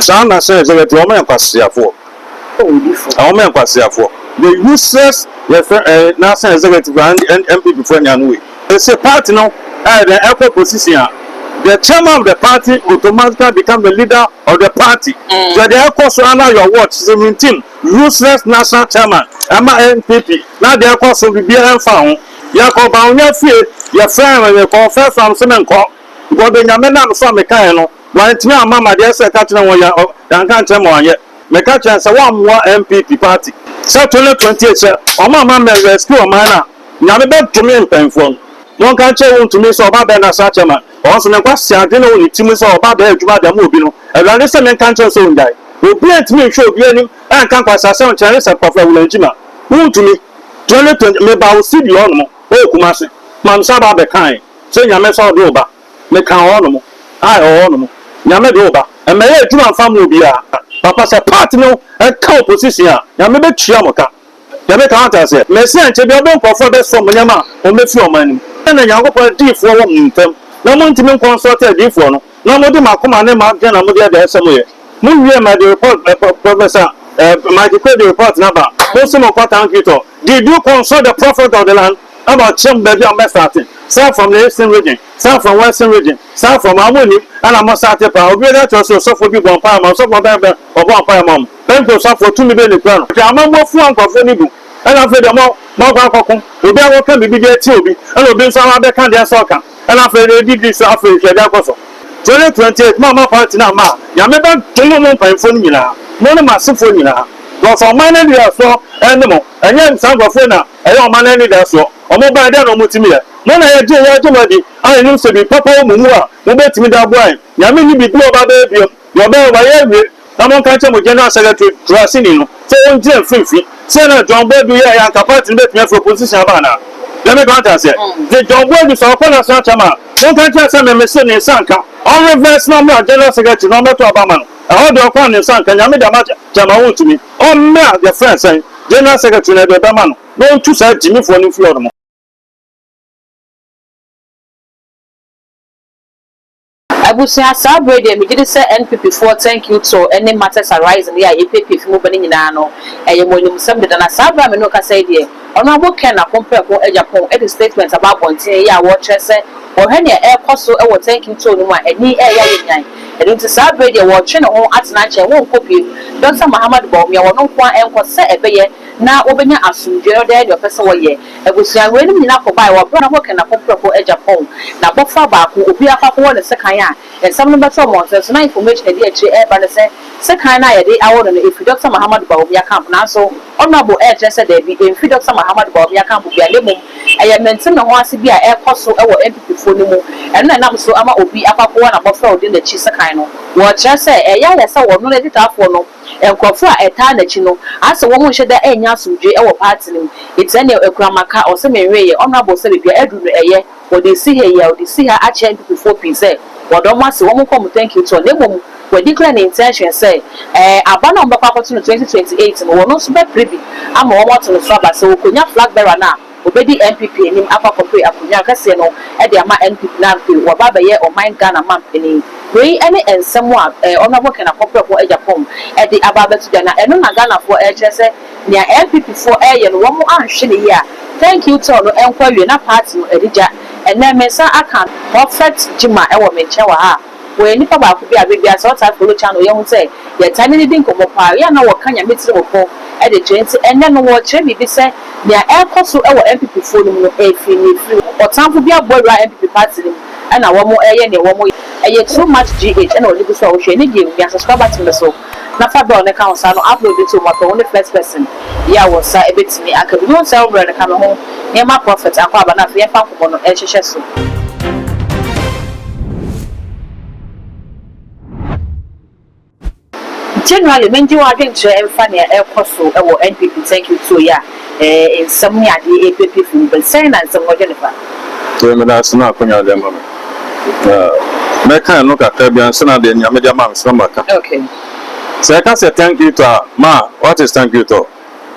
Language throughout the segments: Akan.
Saa na sɛ sɛ yɛte wɔn yɛ nkwaseafoɔ ɛ wɔn yɛ nkwaseafoɔ the useless yɛfrɛ ɛ n'asɛn executive a NPP foɔ nya no wei ɛsɛ party no ayɛ dɛ ɛkɔ position a the chairman of the party automatically become the leader of the party sɛ deɛ ɛkɔ so ana your watch seventeen useless national chairman ɛma NPP na deɛ ɛkɔ so bibiara ɛmfa ho yɛkɔ bawonya fie yɛfrɛ yɛkɔ first one so menkɔ because deɛ nyame nam so a mekaeɛ no. Wɔantumi amma me adeɛ sɛ ɛka kyerɛ wɔn yɛ ɔ yɛanka nkyerɛ ma wɔanyɛ. Meka kyerɛ no sɛ wɔammoa NPP party. Sɛ twenty twenty eight sɛ wɔn amma me rescue ɔman no a, Nyame bɛdome mpanyinfoɔ no. Monka nkyerɛ wɔn ntumi sɛ ɔba bɛɛ na saa kyɛ ma wɔn nso ne nkwaseaa adwene wɔ ne tirim sɛ ɔba bɛɛ adwuma de ama obi no Awurade sɛ menka nkyerɛ no sɛ ɔngyae. Obiara ntumi nhwɛ obiara anim ɛnka nkwaseaa sɛm nkyerɛ ne sɛ Kpafo Awulan Gyima wontumi twenty twenty meba wo studio hɔ nom ɔ Kumase ma me sɛ aba abɛkae sɛ Nyame sɛ ɔde wo ba. Meka hɔnom, ae, hɔnom. Nyame de wo ba. Mmɛyɛ adwuma mfa mma obiara. Papa, sɛ part no ka opposition a, Nyame bɛtua mo ka. Nyame ka, wate aseɛ? Mese ankyɛ biara wobɛhu nkurɔfoɔ a bɛsɔ mo nneɛma a wɔbɛfiri ɔman no mu. Na Nyankopɔn adiyifoɔ wɔ mo ntam, na montumi nkɔnsɔlte adiyifoɔ no, na mode mo akoma ne mo adwene na mode ɛda ɛsɛ mo yɛ. Mowie ma de report, Professor Mike Kwe de report no aba a, monso monkɔ tank it all. Did you consult the prophet of the land? Ɛna ɔkyerɛ me baabi a wɔbɛ starte, South from the eastern region, South from western region, South from a wɔn nim, ɛna wɔn starte paa, obi bɛka akyerɛ wo sɛ osɔfoɔ bi bɔɔ mpaeɛ maa wɔn, osɔfoɔ bɛn bɛn ɔbɔɔ mpaeɛ maa wɔn, Pɛnte osɔfoɔ, tumi bɛn na ekura no, hwɛ amammɔ fua nkorɔfoɔ no gu, ɛna afei deɛ mo moakɔ akɔko, obi a wɔka biribi de atia obi, ɛna obi nso aba abɛka deɛ ɛsɛ ɔka, ɛna afei deɛ edidi so afei hwɛ deɛ ɛkɔ so, twenty twenty eight mo a moakɔ atena mma a, Nyame bɛ dome mo mpaninfoɔ no nyinaa, mo ne mo asefoɔ nyinaa, cos ɔman no deɛ ɛsoɔ ɛne mo, ɛnyɛ saa nkorɔfoɔ yi na. Ɛyɛ ɔman anidasoɔ. Wɔn baeɛ, dɛn na wɔtumi yɛ? Mo na yɛgye yɛn dom adi, a yɛnim sɛ biribi papa wɔ mo mu a mobɛtumi de aboa yɛn. Nyame nni biribi a ɔbɛbɛyɛ bio, deɛ ɔbɛyɛ, wayɛ awie. Na monka nkyerɛ mo General Secretary, Kuraseni no, sɛ ɔngyina mfimfini. Sɛdeɛ na John Boadu yɛeɛ a, anka party no bɛtumi afiri opposition aba anaa? Nyame adom, wate aseɛ? Nti John Boadu, sɛ ɔkɔ National Chairman a, monka nkyerɛ no sɛ me mese ne nsa nka. Ɔnreverse na ɔmmra General Secretary na ɔmmɛto aba ama no. Ɛhɔ deɛ ɔkɔ a ne nsa nka. Nyame deɛ, moate? Gyama wontumi. Ɔmmra yɛfrɛ no sɛn? General secretary no ɛde bɛma no na ɔntu saa gyimifoɔ no mfiri hɔ nom. Abusua saa bere deɛ megye di sɛ NPP foɔ thank you to ne martyrs arising yi a yɛpiapiafi mu ba no nyinaa no ɛyɛ mo animsɛm deda na saa bere a me ne wo kasa yi deɛ, Ɔno abo kɛn n'apon prɛko agya pon de statement aba abɔnten ɛyɛ a wɔrekyerɛ sɛ wɔrehwɛ nea ɛrekɔ so wɔ Thank You Tour no mu a ani reyɛ ayɛ nyan. Ɛno nti saa bere yi deɛ wɔretwe ne ho atena nkyɛn wɔrenkɔ biem. Dɔkta Mahamat Bawumia wɔn nko ara nkɔ sɛ ɛbɛyɛ na wɔbɛnya asomdwoe no dɛn ne ɔpɛ sɛ wɔyɛ. Abusua weinom nyinaa kɔbaeɛ wɔ bere a ɔno abo kɛn n'apon prɛko agya pon. N'abɔfra baako obiara kɔ akɔwɔ ne sekan a Nsɛm no bɛtɔɔ mo ahwɛ so. Ná information a edi akyiri reba ne sɛ sekan no a yɛde awo no no efi Dɔkta Mahamadou Bawumia camp. Nanso Honourable rekyerɛ sɛ dabi, emfi Dɔkta Mahamadou Bawumia camp biara, na mmom ɛyɛ mente-me-ho-ase bi a ɛrekɔ so wɔ NPPfoɔ no mu. Ɛno na ɛnam so ama obi akɔ akɔwɔ n'abɔfra a odi n'akyi sekan no. Wɔkyerɛ sɛ ɛyɛ ayɛ sɛ wɔno ne adwotwaafoɔ no, nkurɔfoɔ a ɛtaa n'akyi no, asɛ wɔn nhyɛ da nnya asomdwoe wɔ party no mu. Etia nea Akuama ka, ɔse, Menweeɛ, Honourable, sɛ baabi a aduru no ɛyɛ. Wɔde esi ha yi a wɔde esi ha akyerɛ mpepefoɔ pii sɛ wɔda wɔn ase, wɔn nkɔ wɔn thank you tour, na mmom wa declare ne intention sɛ ɛɛ aba no a wɔbɛkɔ akɔto no twenty twenty eight no wɔn nso bɛpere bi ama wɔn ato no so aba sɛ wɔkɔnya flag bearer no a ɔbɛdi NPP anim akɔ akɔpere akonwa kɛseɛ no de ama NPP na afei waba abɛyɛ ɔman Ghana manpanin. Wei ne nsɛm a ɛɛ Honourable Ken Akɔprɛboɔ Agyapong de aba abɛto dwa na ɛno na Ghanafoɔ ɛrekyerɛ sɛ Nea NPP foɔ reyɛ no wɔn anhwe no yie a thank you tour no nkɔ awie na party no adi gya. Ɛnnɛ me nsa aka prophet Jima wɔ me nkyɛn wɔ ha a ɔyɛ nipa baako bi a bere biara sɛ ɔtaa follow channel yɛhu sɛ yɛtaa ne no di nkɔmmɔ paa yɛ a na ɔka Nyame tirim fo de kyerɛ nti ɛnnɛ no ɔrekyerɛ biribi sɛ nea ɛrekɔ so wɔ NPP foɔ no mu no ɛfiri ne ɛfiri ɔtamfo bi abɔwura NPP party no mu ɛna wɔn reyɛ nea wɔn yɛ ɛyɛ too much GH ɛna ɔde gu so a ɔhwɛ ne deɛ wiase so aba tumi so. na fa dɔɔ no ka ho saa no upload it o mapɛ wo ne first person yi a wo nsa bɛtumi aka bi mehu sɛ wo brɛ no ka me ho nneɛma prophet akɔ aba no afei yɛmfa nkɔmmɔ no nhyehyɛ so. Generally mengye wo adwenkyerɛ mfa nea ɛrekɔ so wɔ NPP thank you too yeah. Ɛɛ nsɛm ne adeɛ ɛrepiapia firi mu pɛ sɛn na nsɛm no dwene fa? Tee me da ase na akonya de ama me na mɛ kan no kakra bi ansa na deɛ nyame de ama me so na ma ka okay sɛ yɛ ka sɛ thank you to a ma what is thank you to?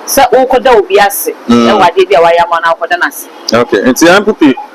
Sɛ wo kɔ da obi ase wɔ adeɛ bi a wayɛ ama wo na wo kɔ da no ase. Okay nti npp.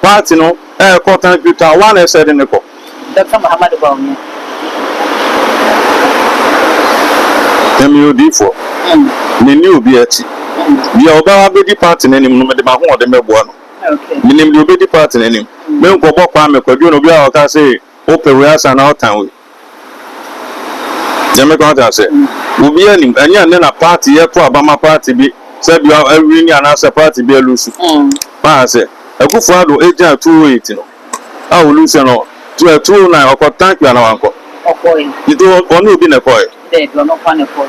Party no ɛɛkɔ kan firi town waa na ɛsɛ de no kɔ. Doctor Muhammadu Bawumia. Nyame yɛ odiyifoɔ, menni obi akyi. Deɛ ɔbɛba abɛdi party no anim no, mede m'ahoɔden bɛboa no. Menim deɛ ɔbɛdi party no anim. Menkɔbɔ Kwame Kwadwo na obiara ɔka se, Wopɛ wei asa anaa wotan wei. Nyame kwan te ase. Obiara nim. Ɛnyɛ ɛnɛ na party yɛ to aba ma party bi sɛ bi awini anaasɛ party bi alusu. Wate ase. Akufo Addo egyaa 208 no a olusuɛ no, 209 ɔkɔ tank bi anaa wankɔ? Ɔkɔe. Nti ɔne obi na ɛkɔe? Dabi, ɔno nkoa na ɛkɔe.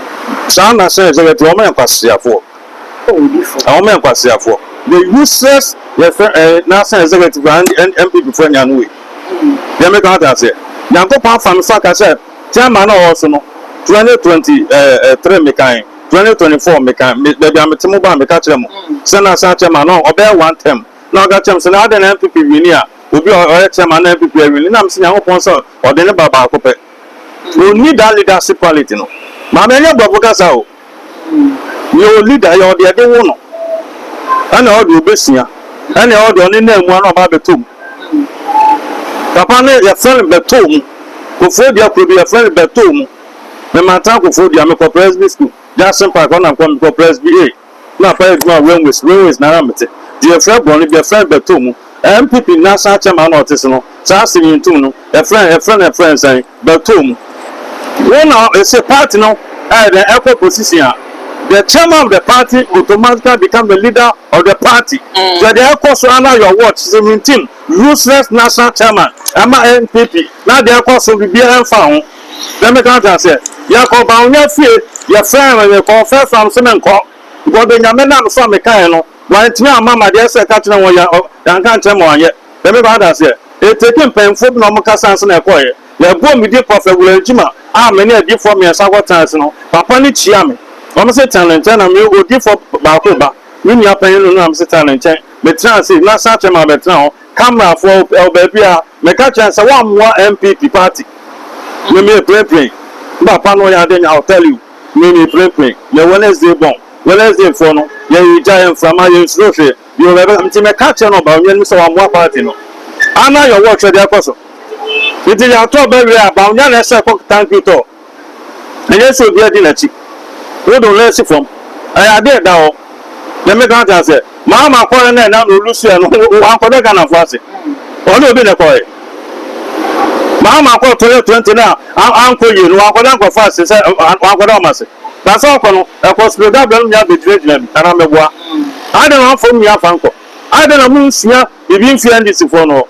Saa na sɛ executive wɔyɛ nkwaseafoɔ. Ɔmo yɛ nkwaseafoɔ. The useless yɛfrɛ ɛɛ national executive a NPP foɔ nya no wei. Deɛ meka wate aseɛ. Nyankopɔn afa me so aka sɛ chairman a ɔwɔ so no 2023 mekan, 2024 mekan, me baabi a mete mo baa meka kyerɛ mo sɛ national chairman no ɔbɛyɛ one term. Na ɔka kyerɛ me sɛ na adɛn na NPP wini a obi a ɔyɛ chairman na NPP awini. Na mese Nyankopɔn sɛ ɔde ne ba baako pɛ. Ɔnni that leadership quality no. Maame ɛnyɛ brɔfo kasa o. Yɛ wo leader, yɛ ɔde ɛde wo no ɛna ɔde obesua ɛna ɔde ɔne na mua no ɔba abɛtɔ mu. Papa no yɛfrɛ no bɛtɔ mu, Kofoɔ Dua kuro bi yɛfrɛ no bɛtɔ mu. Me mantan Kofoɔ Dua, mekɔ Presby school, Jackson Park hɔ na mekɔ, mekɔ Presby A na papa yɛ adwuma railways, railways na ara mete. Deɛ yɛfrɛ borɔ no bi yɛfrɛ no bɛtɔ mu. NPP national chairman na ɔte so no saa asɛm yi ntom no yɛfrɛ no yɛfrɛ no yɛfrɛ no sɛn? bɛtɔ mu. Wo na ese party no ɛyɛ dɛn ɛkɔ position a, the chairman of the party automatically become the leader of the party. Hwɛ deɛ ɛkɔ so under your watch, seventeen useless national chairman ɛma NPP na deɛ ɛkɔ so biribiara ɛnfa ho. Deɛ meka ate aseɛ. Yɛkɔ Bawumia fie, yɛfrɛɛ no mekɔ, ɔfrɛ so a mese menkɔ because Benjamin a mefaa mekaeɛ no wantumi amma me adeɛ sɛ ɛka kyerɛ wɔn yɛanka nkyerɛ ma wɔanyɛ. Dɛm ebɛn adanse ɛ? Eteke mpanyimfo bi na wɔkasa ansa na yɛkɔe. Yɛbɔɔ me din Prophet William Gyimah a me ne adiyifo mmiɛnsa kɔtenaa ase no, papa no kyiaa me. Ɔno nso tenaa ne nkyɛn na me odiyifo baako ba, me nua panyin no na me nso tenaa ne nkyɛn. Metraa ase na saa kyɛm a bɛtena hɔ kamerafo a wɔwɔ baabiara. Meka kyerɛɛ no sɛ wɔammoa NPP party me merepirenpiren. Me papa no ɔyɛ ade nyɛ I'll tell you me merepirenpiren. Yɛ Wednesday bɔn. Wednesday foɔ no yɛregyae mframa yɛnsuro hwee. Bio, mebɛka, ntsi mɛka akyerɛ no ɔba onua no mu sɛ ɔamboa party no, aana ayɛ ɔwɔ ɔkyerɛ dze akɔ so. Ntsi yɛato aba wie a, ba onua na ɛhyɛ kɔ tank bi tɔ, nnyɛ sɛ obiara dzi n'akyi. Wo do no esi fam, ɔyɛ ade a ɛda hɔ. Dɛ me kan kan sɛ, maa makɔree na ɛna na olusuɛ no, ɔannkɔda Ghanafo ase, ɔne obi na ɛkɔree. Maa makɔr Toyɛ 20 na annkɔ yie no, ɔannkɔda nkorɔfo ase sɛ ɔannkɔda wɔn ase. Na sɛ ɔkɔ no, ɛkɔ Srebrenica no nyinaa begyinagyina bi, anaa meboa? Ayɛ dɛn na wɔamfa wɔn nyinaa afa ankɔ? Ayɛ dɛn na monsua biribi mfii NDC foɔ no hɔ?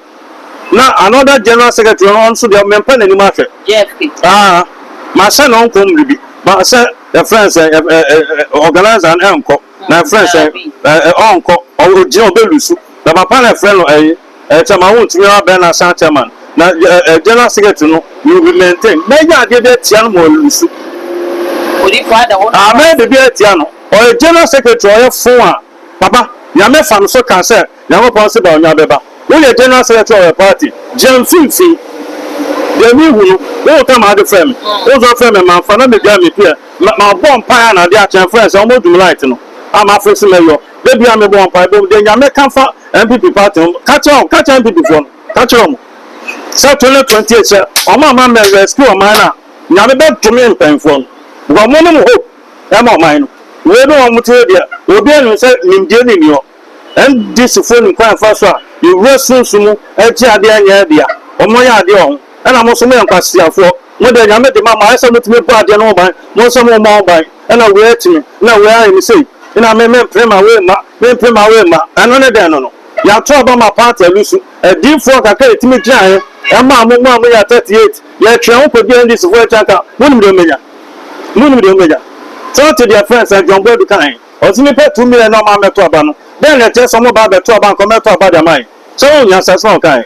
Na another General Secretary no, ɔno nso deɛ, mempa n'anim ahwɛ. Jeff Kiti. Aah, mahyɛ no ɔnkɔ mmere bi, ma sɛ yɛfrɛ no sɛn, ɛ, ɛ, ɛ, organiser no, ɛnkɔ. Na yɛfrɛ no sɛn, ɛ, ɛ, ɔnkɔ, ɔ, ɔgyina, ɔbɛlusu. Na papa no, yɛfrɛ no ɛyi. Ɛkyɛ ma wontumi ara bɛn no asan kyɛ ma no, na General Secretary no will be maintained. Mɛyɛ adeɛ bi atia no ma ɔrelusu. Mɛyɛ biribi atia no. Ɔyɛ General Secretary a ɔyɛ fo a, papa, Nyame fa no so ka sɛ Nyankopɔn se Bawumia bɛba. Woyɛ General Secretary of a party, gyina mfimfini. Deɛ mehu no, woretɔ ma ade frɛ me, wosɔ frɛ me mamfa na medware me pia, mabɔ mpaeɛ a na adeɛ akye, ɛmfrɛ sɛ wɔmmɔ dum light no a mafrɛ se mɛyɔ. Da biara me bɔ mpaebɔ mu deɛ nea mɛ ka fa NPP party ho ka kyerɛ wɔn, ka kyerɛ NPP foɔ no, ka kyerɛ wɔn sɛ 2028 sɛ wɔn amma mɛ rescue ɔman no a, Nyame bɛ dome mpanyinfoɔ no, because wɔn ne mo hope ɛma ɔman no. Wei ne wɔn mo tiri deɛ, obiara nim sɛ nimdie ne nni hɔ, NDC foɔ nim kwan a ɛfa so a yɛwura sunsum mu ɛgye adeɛ ɛnyɛ ɛdea, wɔn yɛ adeɛ wɔ ho, ɛna mo nso mo yɛ nkwaseafoɔ. Mo deɛ, Nyame de ma mo, ayɛ sɛ motumi bɔ adeɛ no ho ban, mo nso mommɔ ho ban, ɛna wei atumi, ɛna wei ayɛ no sei, ɛna me mempere ma wei mma, mempere ma wei mma, ɛno ne dɛn no no? Yɛato aba ma paati alusu, adiyifoɔ kakra a yɛtumi gyinaeɛ, ɛmaa mo mu a moyɛ 38, yɛtwɛn ho kɔdii NDCfoɔ akyi anka monim deɛ mobɛnya? Monim deɛ mobɛnya? Sɛ wote deɛ friend Sir John Boadu kaeɛ, ɔse nnipa two million na wɔn a wɔmmɛto aba no, dɛn na ɛkyerɛ sɛ wɔba abɛto aba anka wɔmmɛto aba de ama yɛn? Sɛ wohu nyansahyɛ a ɔkaeɛ?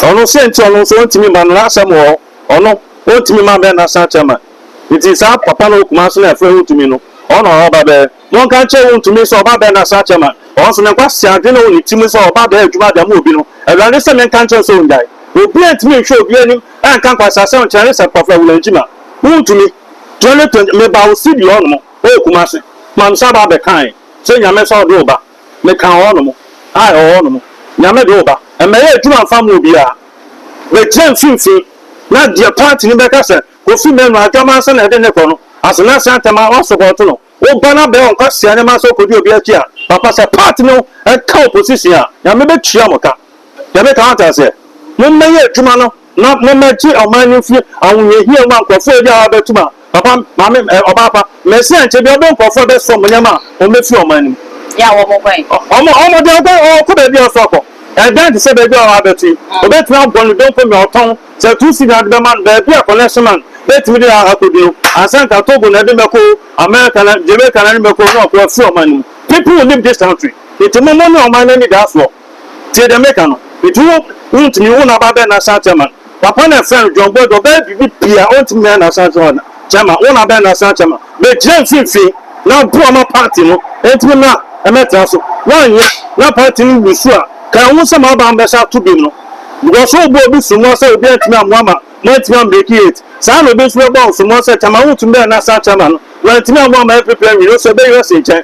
Ɔno se nti ɔno nso ɔntumi mma no n'asɛm wɔ hɔ, ɔno ɔntumi mma bɛ n'asan kyɛ ma nti saa papa no wɔ Kumasi na ɛfrɛ wontumi no ɔno ɔrɔ ba bɛ monka nkyerɛ no ntumi sɛ ɔba bɛ n'asan kyɛ ma ɔno nso ne nkwasi adwene wɔ ne ti mu sɛ ɔba bɛ adwuma da mu obi no awurade sɛ menka nkyerɛ no sɛ ɔngyae obia ntumi nhwɛ obia anim ɛnka nkwasi asɛm nkyerɛ ne sɛ papa wura ngyima wontumi 2020 meba wo sidi ɔnom ɔwɔ Kumasi ma no sa ba bɛ kae sɛ nyame sɛ ɔde wo ba. Meka hɔnom, ae, hɔnom, Nyame de wo ba. Mmɛyɛ adwuma mfa mma obiara. Bɛgyina mfimfini, na deɛ paati no bɛka sɛ, Kofi Manu, adwaman sɛ na yɛde no kɔ no, Asenase Antɛm a, wɔasɔpɔɔto no. Wo ba no abɛyɛ ɔnkwasea ne ma sɛ ɔkɔdi obi akyi a, papa, sɛ paati no ka opposition a, Nyame bɛtua mo ka. Nyame ka, wate aseɛ? Mommɛyɛ adwuma no. na mommɛgye ɔman no mfiri ahohiahia mu a nkurɔfoɔ redi a wɔabɛtom a, papa, maame, ɛ, ɔbaa pa, Mesia nkyɛ biara, ɔbɛyɛ nkurɔfoɔ a ɛbɛsoa wɔn nneɛma a wɔbɛfiri ɔman no mu. Yɛ a wɔguan. Wɔn, wɔn deɛ wɔguan, wɔkɔ baabi a wɔsɔ akɔ. Ɛdan te sɛ baabi a wɔabɛto yi. Wɔbɛtumi abɔ no donko nea ɔtɔn, sɛ ɛtoo sidi a wɔde bɛma no, baabi a connection man bɛtumi de akɔdu no, ansa na anka Togo na ɛde bɛkɔ o, America na, Jamaica na ɛde bɛkɔ o, na wɔafiri ɔman no mu. People will leave this country. Enti mo, mo ne ɔman no anidasoɔ. Tsie dza meka no, Ntsi wo wunntumi, wo na abɛabɛn n'asan chairman? Papa na friend John Boadu, ɔbɛyɛ biribi pii a onntumi ayɛ n'asan chairman, wo na abɛyɛ n'asan chairman? Megyina mfinfin na boa ma party no entumi na ɛmɛtra so, woannyɛ na party no wu su a, kan wohu sɛ mo aban bɛsan ato bim no, because wobɔɔ obi sommua sɛ obi anntumi ammoa ma moanntumi ambreki it, saa na obi nso bɛbɔ wo sommua sɛ chairman wonntumi bɛyɛ n'asan chairman no, woanntumi ammoa ma NPP annwini, ɔsɛ bɛyera si nkyɛn.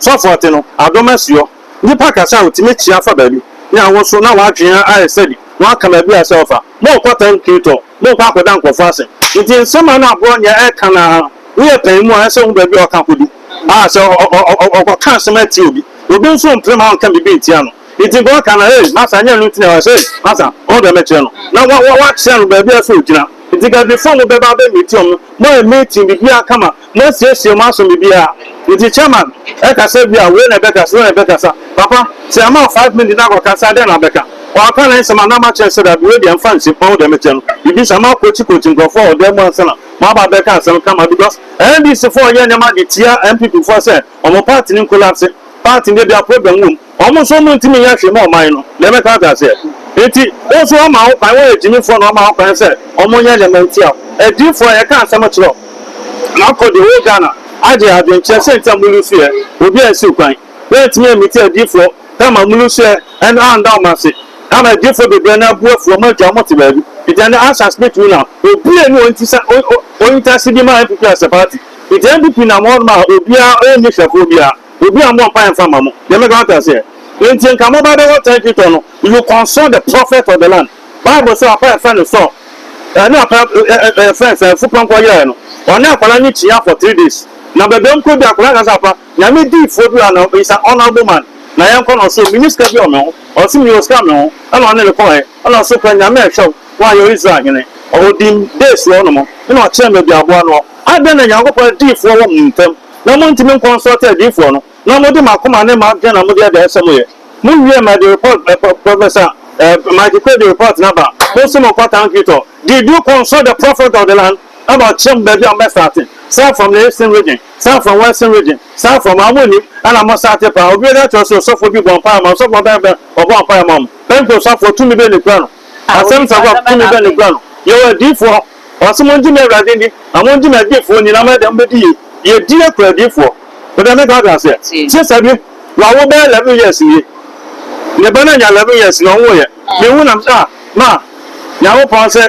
Sɔfoɔ te no, adom asuɔ. Nnipa kasa a wɔtumi kyea fa baabi, ne awoso na wɔn adwene ayɛ sɛdi wɔn aka baabi a ɛsɛ ɔfa. Morekɔ tank kiritɔ, morekɔ akɔda nkurɔfoɔ ase. Nti nsɛm a na aborɔnyɛ reka no ara, woyɛ panyin mu a ɛsɛ wohu baabi a ɔka kɔdu. Ah, sɛ ɔkɔka asɛm atia obi. Obi nso mprem a ɔnka biribi ntia no. Enti God ka no, Hey, masa, nyɛ ɛno nti na ɛwɔ sɛ, hey, masa, ɔno deɛ mɛkyerɛ no. Na wa, wa, wakyerɛ no baabi a sɛ ɔgyina. Enti Gabifoɔ mo bɛba abɛ meeti wɔn. Mo ayɛ meeting biribiara kama. Mo asiesie mo aso biribiara. Enti Chairman ɛkasa bi a, wei na ɛbɛkasa, wei na ɛbɛkasa. Papa, sɛ yɛama wo five minutes na akɔkasa a, dɛn na wobɛka? Ɔaka ne nsɛm a, na makyerɛ no sɛ dabi, wei deɛ mfa nsi, ɔno deɛ mɛkyerɛ no biribi saa. Mo akɔkyi kɔkyi nkorɔfoɔ wɔ dan mu ansa na mo aba abɛka asɛm kama because NDC foɔ reyɛ nneɛma de tia NPP foɔ sɛ wɔn party no nkolapse. Party no deɛ biara problem wɔ mu. Wɔn nso wɔntumi nyɛ hwee mma ɔman no, nea mɛka ate aseɛ. Enti wo nso wɔama wo kwan, woyɛ gyimifoɔ na wɔama wo kwan sɛ wɔnyɛ nneɛma ntia wo. Adiyifoɔ, yɛka asɛm kyerɛ wo. Makɔ deɛ ɔwɔ Ghana agye adwenkyerɛ sɛ nti a molusuiɛ, obiara nsiw kwan. Woantumi ammiti adiyifoɔ ka ma molusuiɛ no anda wɔn ase, ama adiyifoɔ bebree no abu afu, wɔn agya wɔn te baabi. Enti ɛnnɛ Usher Smith wu na obi anni wɔn ti sɛ ɔnyi tase bi ma NPP as a party. Enti NPP nam hɔnom a obiara ɔnni hwɛfoɔ biara. Obi a ɔmmɔ mpaeɛ mfa mma mo deɛ mɛka moate aseɛ. Enti nka moba bɛwɔ territory tɔ no, you consult the prophet of the land. Bible sɛ ɔpɛ a yɛfrɛ no Saul, ɛne ɔpɛ a yɛfrɛ no sɛ Afupɔnkɔ yeraɛ no, ɔne akwadaa no kyiaa for three days. Na baabi a wɔn kɔduru akwadaa no ka sɛ apa, Nyame diifoɔ bi wɔ ha na he's an honourable man na yɛnkɔ na ɔse menni sika bi wɔ me ho, ɔse mewɔ sika wɔ me ho ɛna ɔne no kɔɔɛ ɛna ɔse kɔ Nyame ɛhwɛ wo na wayɛ wo Israel hene. Ɔdim days wɔ hɔ nom ɛna ɔkyerɛɛ baabi a aboa no wɔ. Adɛn na Nyankopɔn diifoɔ wɔ mo ntam? na montumi nkɔnsɔɔte adiyifoɔ no, na mode mo akoma ne mo adwene na mode adaeɛsɛm yɛ. Mowie ma ɛde report ɛ, Professor ɛ, Mike Kwe de report no aba, monso monkɔ town Quito. Did you consult the prophet of the land about kyerɛ mo baabi a mobɛ starte? Saa from the eastern region? Saa from western region? Saa from a monnim, ɛna mo starte paa. Obi bɛka akyerɛ wo sɛ osɔfoɔ bi bɔɔ mpaeɛ maa wo, osɔfoɔ bɛn bɛn ɔbɔɔ mpaeɛ maa mo? Pentecostafoɔ, tumi bɛn na ɛkura no? Assemblies of God, tumi bɛn na ɛkura no? Yɛwɔ adiyifoɔ. Ɔse mongye me Awurade ndi na mongye me adiyifoɔ ndi na mo ɛdɛ mobɛdi yie. Yɛdie kura adiyifoɔ. Wode meka kyerɛ aseɛ. Kye sɛ bi wawo bɛyɛ eleven years nie. Ne ba no anya eleven years na ɔnwoeɛ. Mehu na mese ah ma Nyankopɔn se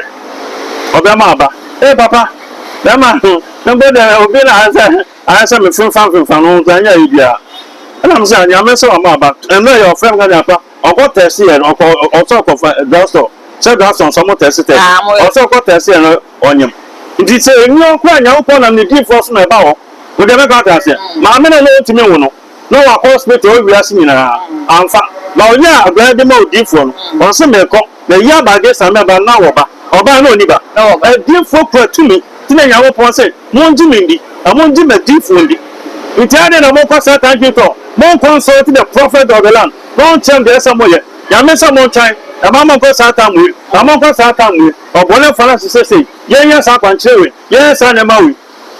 ɔbɛma aba. Ee papa bɛma mpo deɛ obi na ayɛ sɛ ayɛ sɛ mefemfamfemfam no nso ɛnyɛ ayi biara. Ɛna mese ah Nyame se wama aba. Mmerɛ yɛ ɔfrɛ me ka deɛ apa. Ɔkɔ tɛɛse yɛ no ɔkɔ ɔsɛ ɔkɔ fa drasɔ sɛ drasɔ nsɔ mo tɛɛse tɛɛse ɔsɛ ɔkɔ tɛɛse yɛ no ɔnyem nti sɛ ɛni ɔkura nyankopɔn nam ne di foɔ so na ɛba hɔ ɔdeɛ mɛkɔ ate aseɛ maame na na ɔntumi nwo no na wakɔ hospital ɔwɔ wiase nyinaa amfa ba ɔnyɛ a abrɛ de ma ɔdi foɔ no ɔse mekɔ na yi aba adeɛ sa mɛba na wɔba ɔba na ɔni ba ɛdi foɔ kura tumi. Nti na Nyankopɔn se, Mongye me ndi, na mongye m'adiyifoɔ ndi. Nti adɛn na mokɔ Satan dwen tɔ? Monkɔ nsɔreti the prophet of the land, na ɔnkyerɛ mo deɛ ɛsɛ sɛ moyɛ. Nyame se montwan, na mamma nkɔ Satan mmue, na monkɔ Satan mmue. Ɔbɔnefoɔ no aso se sei, Yɛnyɛ saa akwankyerɛ wei, yɛnyɛ saa nneɛma wei.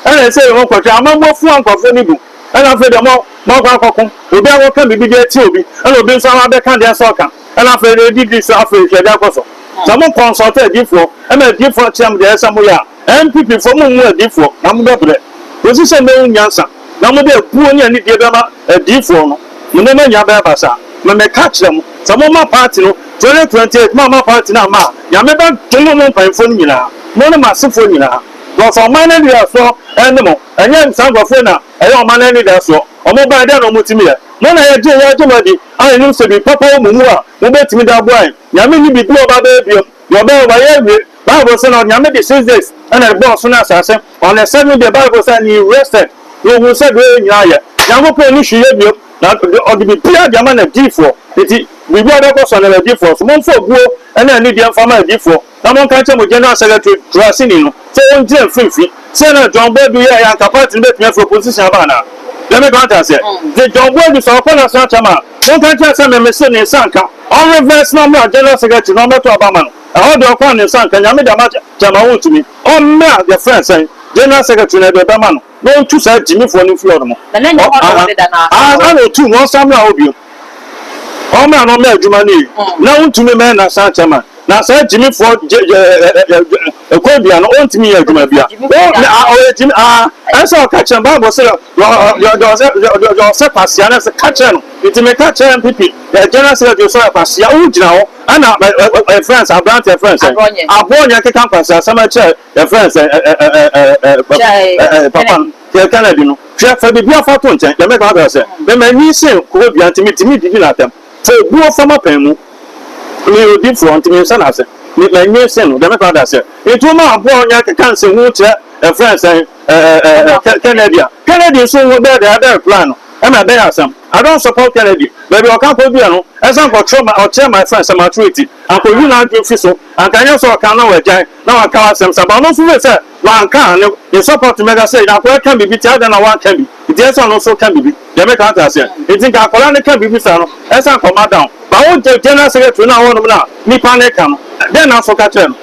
Ɛna ɛsɛ sɛ yɛma nkwankyerɛ, ama moafua nkurɔfoɔ no bu. Ɛna afei deɛ moakɔ akɔko, obi akɔka biribi de atia obi, ɛna obi nso aba abɛka deɛ ɛsɛ sɛ ɔka. Ɛna afei nea edidi yi so afei hwɛ deɛ ɛkɔ so. Sɛ mo kɔnsɔlto adiyifoɔ ɛma adiyifoɔ akyea mo deɛ ɛyɛ sɛ moyɛ a, NPP foɔ mommu adiyifoɔ na mobɛ brɛ. Kɔsi sɛ mobɛhu nyansa na mode abuo ne anidie bɛma adiyifoɔ no, mo nneɛma nyinaa bɛyɛ basaa. Me meka kyerɛ mo sɛ momma party no 2028 mo amma party no amma a, Nyame bɛ dome mo mpaninfoɔ no nyinaa, mo ne mo asefoɔ nyinaa. Cos ɔman no anidasoɔ ɛne mo, ɛnyɛ saa nkorɔfoɔ yi na Ɛyɛ ɔman anidasoɔ. Wɔn baeɛ, dɛn na wɔtumi yɛ? Mo na yɛgye yɛn dwom adi, a yɛnim sɛ biribi papa wɔ mo mu a mobɛtumi de aboa yɛn. Nyame nni biribi a ɔba bɛyɛ biom, deɛ ɔbɛyɛ, wayɛ awie. Bible se na Nyame de six days na de bɔɔ ɔsoro ne asase. On the seventh day, Bible se, and he rested, na ɔhuu sɛ deɛ ɔyɛ nyinaa yɛ. Nyankopɔn nni hwee yɛ biom, na ɔde biribiara de ama n'adiyifoɔ. Enti biribiara bɛkɔ so anaa n'adiyifoɔ nso? Momfa obuo ne anidie mfa ma adiyifoɔ. Na monka nkyerɛ mo General Secretary Dwurasini no sɛ ɔngyina mfimfini. Sɛdeɛ na John Boadu yɛeɛ anka party no bɛtumi afiri opposition aba anaa? Let me grant and sɛ de John Boadu sɛ ɔkɔ National Chairman a, monka nkyerɛ no sɛ me mese ne nsa nka. Ɔnreverse na ɔmmra General Secretary na ɔmmɛto aba ama no. Ɛhɔ deɛ ɔkɔ a ne nsa nka. Nyame de ama Chairman wontumi. Ɔmmra yɛfrɛ no sɛn? General Secretary na ɛde ɛbɛma no. na ɔntu saa gyimifoɔ no mfiri hɔ nom, na n'anya hɔ dɔɔ deda na aka hɔ. Ansa na ɔtu no, ɔnsan mmra hɔ bio, ɔmmra na ɔmmɛ adwuma no yie, na wontumi mmɛyɛ nnansa nkyɛ ma no, na saa gyimifoɔ kwan biara no, ɔntumi nyɛ adwuma biara. Ɔyɛ gyimi, aah, ɛne sɛ ɔka kyerɛ no, Bible se, deɛ ɔsɛ kwasea no, ɛsɛ, ka kyerɛ no, nti meka kyerɛɛ mpepe, agya no ase na deɛ ɔsɛ ɔyɛ kwasea, wogyina hɔ, ɛna, ɛfrɛ no sɛ, aberanteɛ, ɛfrɛ no sɛn, aboɔnyɛ, aboɔnyɛ keka nkwaseasɛm kyerɛ. Yɛfrɛ no sɛ ɛ ɛ ɛ ɛ ɛ papa ɛ ɛ papa no hwɛ Kennedy no hwɛ fa biribiara fa to nkyɛn deɛ mɛka akyerɛ sɛ me m'ani sen koko dua nti me tumi didi no atɛm fa obuo fa m'apɛn mu meyɛ odifoɔ nti me nhyɛ no ase me m'ani sen no deɛ mɛka akyerɛ sɛ nti wo ma aboa ɔnyɛ keka nsehu kyerɛ ɛfrɛ no sɛ ɛ ɛ ɛ ɛ Kɛ Kennedy a Kennedy nso nwo bɛɛ deɛ ɛbɛɛ reply no ɛma ɛbɛyɛ asɛm I don't support Kennedy baabi ɔka kɔ duɛ no ɛsɛ nkɔkyerɛ ma ɔkyerɛ ma ɛfrɛ no sɛ maturity ankɔyi n'adwene fi so anka nyɛ sɛ ɔka na wagyae na wanka w'asɛm saa but ɔno nso wei sɛ wanka a ne support mɛda sɛ na akwadaa ka biribi nti adɛn na wanka bi nti ɛsɛ sɛ ɔno nso ka biribi deɛ meka ate aseɛ nti nka akwadaa no ka biribi saa no ɛsɛ sɛ anka ɔma down but wo general secretary no a wɔnom no a nipa no ka no dɛn na nso ka kyerɛ no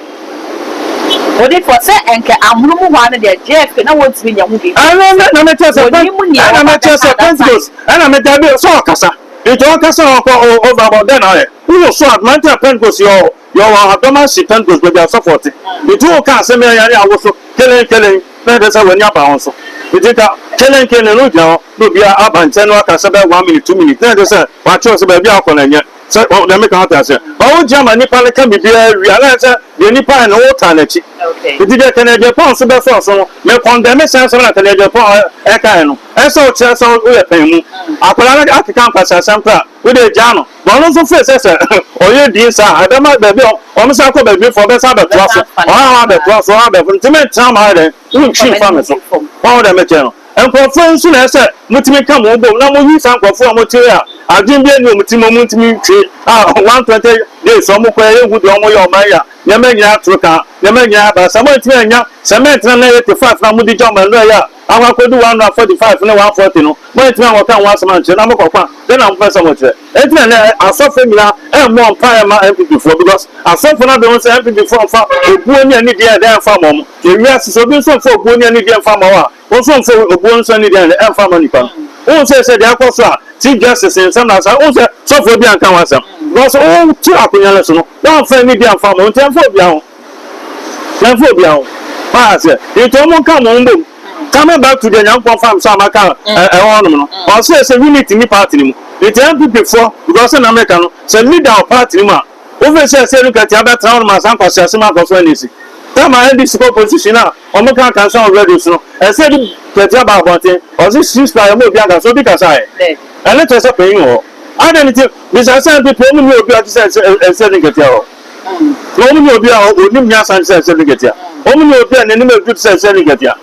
Odifoɔ sɛ ɛnkɛ ahono mu hɔ ano deɛ Jeff na wɔntumi nyɛ ho biribi. Ɛno na na mekyɛ sɛ ɛna mekyɛ sɛ Pentecost ɛna meda bi sɛ ɔkasa nti ɔkasa ɔkɔ ɔba bɔ dɛn ayɛ wowɔ so adoma nti a Pentecost yɛ ɔ Yɛ ɔwɔ adɔm ahye pɛn dodo de asɔfo ɔte. Enti wo ka asɛm yɛ yare awo so kelen kelen na ɛde sɛ w'ani aba wɔn so. Enti nka kelen kelen no gyina hɔ na obiara aba nkyɛn na waka sɛ bɛyɛ one minute two minute na ɛde sɛ wakyerɛw sɛ baabi a ɔkɔ no ɛnyɛ sɛ deɛ meka wate aseɛ. Ba wo gyina ma nipa no ka biribiara wie a na ɛyɛ sɛ deɛ nipa yɛ no wo taa n'akyi. Enti deɛ Kenny Agyapong nso bɛsɔɔ so no me kɔndɛme saa asɛm na Kenny Agyapong ɛka yɛ no. Ɛyɛ sɛ wo kyerɛ sɛ wo yɛ pɛn mu. Akwadaa no akeka nkwasiasɛm koraa. Wo deɛ gyaa no na ɔno nso feel sɛ sɛ ɔyɛ din saa a ɛbɛma baabi a ɔno san kɔ baabi foɔ ɔbɛsan abɛtoa so ɔhaha abɛtoa so ɔhaha abɛtoa so nti mentena mo ha yɛ dɛn wontwi mfa me so wahu deɛ mekyerɛ no nkurɔfoɔ yi nso na ɛsɛ sɛ motumi nka mo ho bom na moyi saa nkurɔfoɔ a wɔte a adwene bi ani wɔn ti ma wɔntumi ntwi a 120 days wɔn kɔ yɛ hu deɛ wɔn yɛ ɔman yɛ a nneɛma nyinaa atoro ka nneɛma nyinaa aba sɛ moantumi anya sɛ mɛntena na yɛ te five na mode gya ɔman no ɛyɛ a Akɔ akodu 145 ne 140 no, moantumi ankɔka ho asɛm ankyerɛ, na mokɔ kwa, dɛn na mopɛ sɛ mokyerɛ? Enti na ɛnnɛ asɔfoɔ nyinaa mmɔɔ mpaeɛ mma NPP foɔ, because asɔfoɔ no abɛhu sɛ NPP foɔ mfa obuo ne anidie ɛdɛn mfa mma wɔn, na ewiase sɛ obi nso mfa obuo ne anidie mfa mma wo a, wo nso mfa obuo nso ne anidie ɛdɛn mfa mma nipa no. Wohu sɛ sɛ deɛ akɔ so a Chief Justice nsɛm na asa, wohu sɛ sɔfoɔ biara nka ho asɛm, because wotu akonnwa no so no, woamfa anidie amfa mma wɔn, enti ɛmfa obiara ho. Mɛmfa obia ho paa sɛ nti ɔmo nka ɔmo ho mbom coming back to deɛ Nyankopɔn fa me so a maka ɛwɔ hɔ nom no ɔsɛɛ sɛ unity nni party no mu nti NPP foɔ because sɛnea meka no sɛ leader wɔ party no mu a wofiri sɛsɛɛ no kɛtee abɛtra hɔ nom ansa nkwasease mu akɔ so NDC time a NDC kɔ opposition a ɔmo ka nka nsa wɔ radio so no ɛsɛ de kɛtee aba abɔnten ɔse cease fire ɔmo obia nka so obi kasa ɛ ɛne kyerɛ sɛ panyin wɔ hɔ adɛn nti bisa sɛ NPP ɔmo nni obia te sɛ ɛsɛ de kɛtee wɔ Wɔn ne obi a ɔnim nyansa te sɛ ɛserɛ katua, wɔn ne obi a n'anim aduru te sɛ ɛserɛ no katua.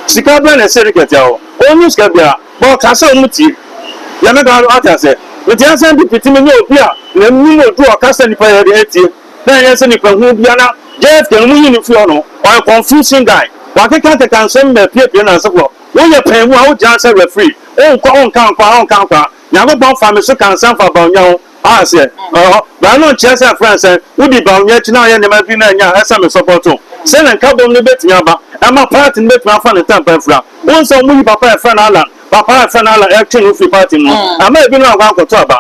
Sika bɛn na ɛserɛ no katua wɔ? Ɔnnim sika biara, but ɔka sɛ wɔtie. Deɛ mɛka no, wate aseɛ? Mete ha sɛ mede pete me ne obi a n'anim aduru a ɔka sɛ nnipa yɛ den atie, na ɛnyɛ sɛ nnipa hunu biara na JF Kanu monyi no mfiri hɔ no, ɔyɛ confusing guy. Wakekakeka nsɛm apiapia nnansa mu hɔ. Woyɛ panyinmu a wogyina ha sɛ referee, wonkɔ, wonka nkwaa, wonka nkwaa. Nyankopɔn faa me so kaa nsɛm faa bawnya ho a aseɛ wɔ hɔ, na ɛno nkyerɛ sɛ ɛfrɛ nsɛn. Wodi bawnya akyi na woyɛ nneɛma pii na ɛnyɛ a, ɛsɛ me sɔpɔ to sɛ ne nkabom no bɛtumi aba. Ɛma paati no bɛtumi afa ne ntɛmpa afira. Wohu sɛ wɔyi papa a yɛfrɛ no Allan, papa a yɛfrɛ no Allan ɛtwe no firi paati no ho. Ɛma ebinom ankɔ ankɔto aba.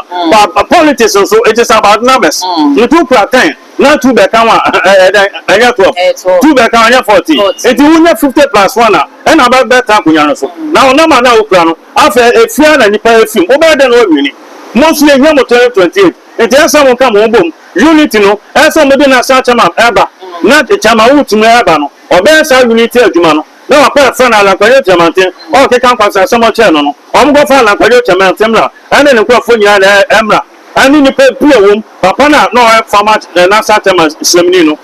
But politics nso, it is about numbers. Nti wokura ten na two bɛka ho a, ɛyɛ dɛn? Ɛnyɛ twelve. Two bɛka ho a, ɛnyɛ fourteen. Nti wonya fifty plus one a, ɛna bɛtena akonwa no so. Na wo number no a wokura no, Afei, efie a na nnipa refi mu, wobɛyɛ dɛn na woanwini? Mo nso yehia mo twenty twenty eight nti ɛsɛ sɛ mo nka mo ho bom. Unity no, ɛsɛ sɛ wɔde no asan kyɛ ma ɛba na kyɛ ma wotumi ɛba no. Wɔbɛyɛ saa unity adwuma no na wɔakɔ ɛfrɛ no Alankwayo Kyerɛmanten a ɔkeka nkwaso asɛm ɔkyɛɛ no no. Wɔnkɔfa Alankwayo Kyerɛmanten mmra ɛne ne nkurɔfoɔ nyinaa na ɛmmra ɛne nnipa pii a wɔwom, papa no a na ɔyɛ former Nasa Tema srɛmni no,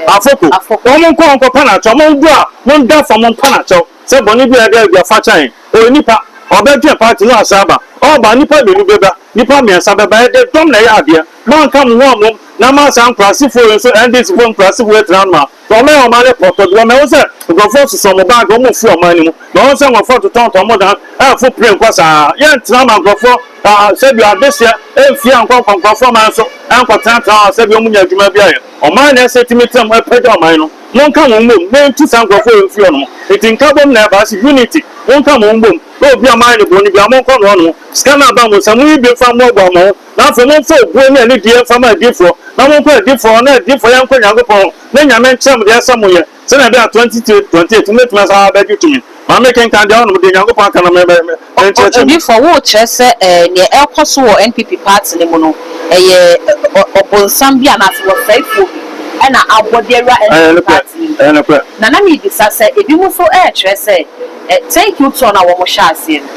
Afoko, wɔn nkɔ wɔnkɔpa no akyɛw, wɔn ndu a wɔnda fam npa no akyɛw. Sɛ bɔne biara da adi a, fa kyɛ yɛn. Ɔyɛ nipa, ɔbɛdwen party no ansa aba. Ɔba a, nnipa mmienu bɛba, nnipa mmiɛnsa bɛba, ɛdeɛ dɔm na ɛyɛ adeɛ. Moanka mo ho ammom na moansa nkuraasefoɔ yi nso, NDC foɔ nkuraasefoɔ yi agyina ano a, na wɔayɛ ɔman no pɔtɔ, because mahu sɛ nkurɔfoɔ sosɔ mo bag, wɔrefiri ɔman no mu. Mahu sɛ nkurɔfoɔ retotɔntɔn mo dan, ɛrefo plane kɔ saa. Yɛntena ma nkurɔfoɔ ah, sɛbi adehyeɛ mfie ankɔ nkɔ nkurɔfoɔ man so, ɛnkɔtenatena hɔ a, sɛbi wɔnnya adwuma bi ayɛ. Ɔman na ɛsɛ ɛtumi tena mu, ɛpagya ɔman no. Monka mo mmom na enti saa nkurɔfoɔ yi mfiri ɔno. Enti nkabom na ɛba, ɛse unity, monka mo mmom na obi a moayɛ no bɔne biara monkɔ no ɔno. Sika no a aba mo nsa, monyi bi mfa mmoaboa mo ho, na afei momfa obuo ne anidie mfa ma adiyifoɔ, na monkɔ adiyifoɔ hɔ, na adiyifoɔ yɛnkɔ Nyankopɔn hɔ, na Nyame nkyerɛ mo deɛ ɛsɛ sɛ moyɛ, sɛdeɛ ɛbɛyɛ a 2028 mobɛtumi asan abɛgye tumi. Ma menkenkan deɛ ɔnom, deɛ Nyankopɔn aka no me, me, menkyerɛkyerɛ mu. Odiyifoɔ, worekyerɛ sɛ ɛɛ neɛ ɛrekɔ so wɔ NPP party no mu no ɛyɛ ɔ, ɔbonsam bi anaasɛ wɔsɛe foɔ bi ɛna abɔ de awura Ɛyɛ NPP nokorɛ, party yi mu? ɛyɛ nokorɛ. Na na merebisa sɛ ebi mo nso ɛrekyerɛ sɛ ɛ, thank you tour no a wɔn hyɛɛ aseɛ no,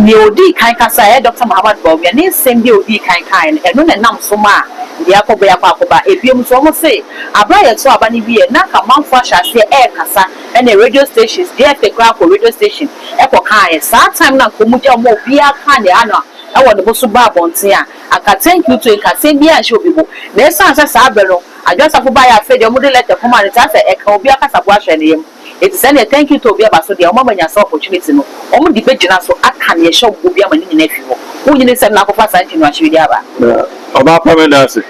neɛ ɔdii kan kasa ɛyɛ Doctor Mohammed Bawumia, ne nsɛm bi a ɔdii kan kaeɛ no, ɛno na ɛnam so maa deɛ akɔba yi akɔ akɔba. Ebio nso wɔn se aberɛ a yɛto aba no wieɛ no na nka amanfoɔ ahyɛ aseɛ ɛrekasa, Ɛne radio stations deɛ te koraa kɔ radio station kɔ kaeɛ saa time no anka ɔmo gya ɔmo a obiaa kaa neɛ ano a ɛwɔ ne bo so baa abɔnten a anka thank you to nka asɛm biaa nhyɛ obi bo na ɛsiane sɛ saa bere no Adwo Asafo baeɛ afei deɛ ɔmo de letter kɔmaa no nti asɛ ɛka obiaa kasakoa hyɛ ne yam nti sɛ neɛ thank you to bi aba so deɛ ɔmo ama nya saa opportunity no ɔmo de bɛgyina so aka neɛ ɛhyɛ ɔmo bo bi ama ne nyinaa afi hɔ wonyini nsɛm na akɔfa saa nkyɛn no akyiri de aba. Na ɔba apam ɛda ase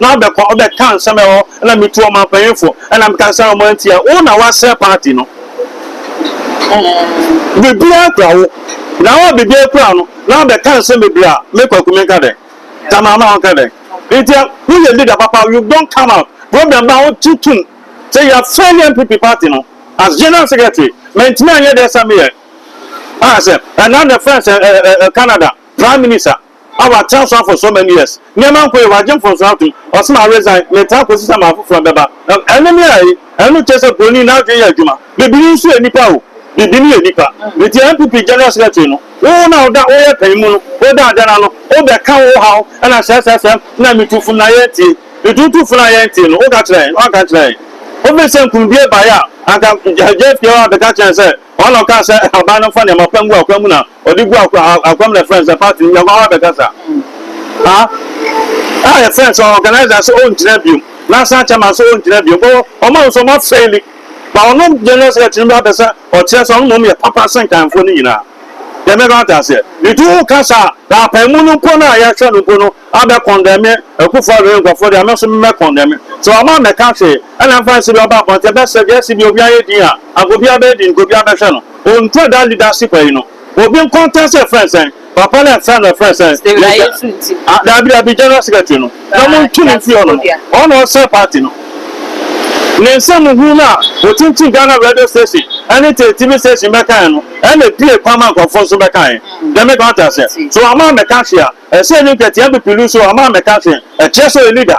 na ɔbɛkɔ ɔbɛka nsɛm ɛhɔ na metu ɔmanpanyinfo na meka nsɛm a ɔmo antia wo na wasrɛ party no biribiara kura wo na wo a biribiara kura no na ɔbɛka nsɛm bebree a me kwaku menka dɛn ta maama a ɔnka dɛn nti wo yɛ leader papa you don't come out problem ba wo ti tum sɛ yɛ fail MPP party no as general secretary mantumi anyɛ dɛ sɛ meyɛ a sɛ ɛna na friends ɛ ɛ ɛ Canada prime minister. a wɔatra so for so many years. Nneɛma nkɔ yie, wɔagye mfomsoɔ atom, ɔsom aresan, metaa kɔsi sɛ maa foforɔ bɛba. Ɛno ne ayi? Ɛno kyerɛ sɛ buroni n'adwene yɛ adwuma. Bibini nso yɛ nipa o, bibini yɛ nipa. Nti NPP General Secretary no, wo na woda woyɛ panyin mu no, woda adɛn ano? Wobɛka wo haw na sɛsɛsɛm na metu funu na yɛntie. Nti wotu funu a yɛntie no, woka kyerɛ yɛn? Woanka nkyerɛ yɛn. Wofiri sɛ nkunimdie baeɛ a, anka JFK hɔ abɛka kyerɛ yɛn sɛ ɔna ɔkaa sɛ aban no mfa nneɛma pa ngu akwan mu na ɔde gu akwa ha akwa mu na ɛfrɛ no sɛ party no yɛnkɔ hɔ abɛkasa ha a yɛfrɛ no sɛ organizer sɛ ɔngyina biom national chairman sɛ ɔngyina biom bɔ ɔma no sɛ ɔma fɛli ba ɔno general secretary no bɛsɛ ɔkyerɛ sɛ ɔno mmom yɛ papa sɛ nkanfoɔ no nyinaa yɛmɛka wata aseɛ nti woka saa na apamu no mpo no a yɛhwɛ no mpo no Abɛ kɔndɛme Akufo Addo ne nkorɔfoɔ deɛ a me nso me mɛ kɔndɛme. Sɛ wama ammɛka hwee ɛna ɛmfa nsi deɛ ɔba abɔnten ɛbɛ sɛ deɛ ɛsi deɛ obiara yɛ din a anka obiara bɛyɛ din nka obiara bɛhwɛ no. Ontua daa leadership ayi no. Obi nkɔntɛste ɛfrɛ no sɛn? Papa no ɛfrɛ no ɛfrɛ no sɛn? Yɛgya Daabi daabi General Secretary no na mo ntu no mfiri hɔ nom. Ɔno na ɔsɛe party no. Ne nsɛm hunu no a ɔkyinkyini Ghana radio station ɛne te TV station bɛkaeɛ no ɛna ɛpue kwan ma nkorɔfoɔ nso bɛkaeɛ. Dɛme ka wate aseɛ. Sɛ wama ammɛka hwee a Ɛsɛ yɛn nkɛtea bepiluu so ama amɛka hwe, ɛkyerɛ sɛ ɔyɛ leader.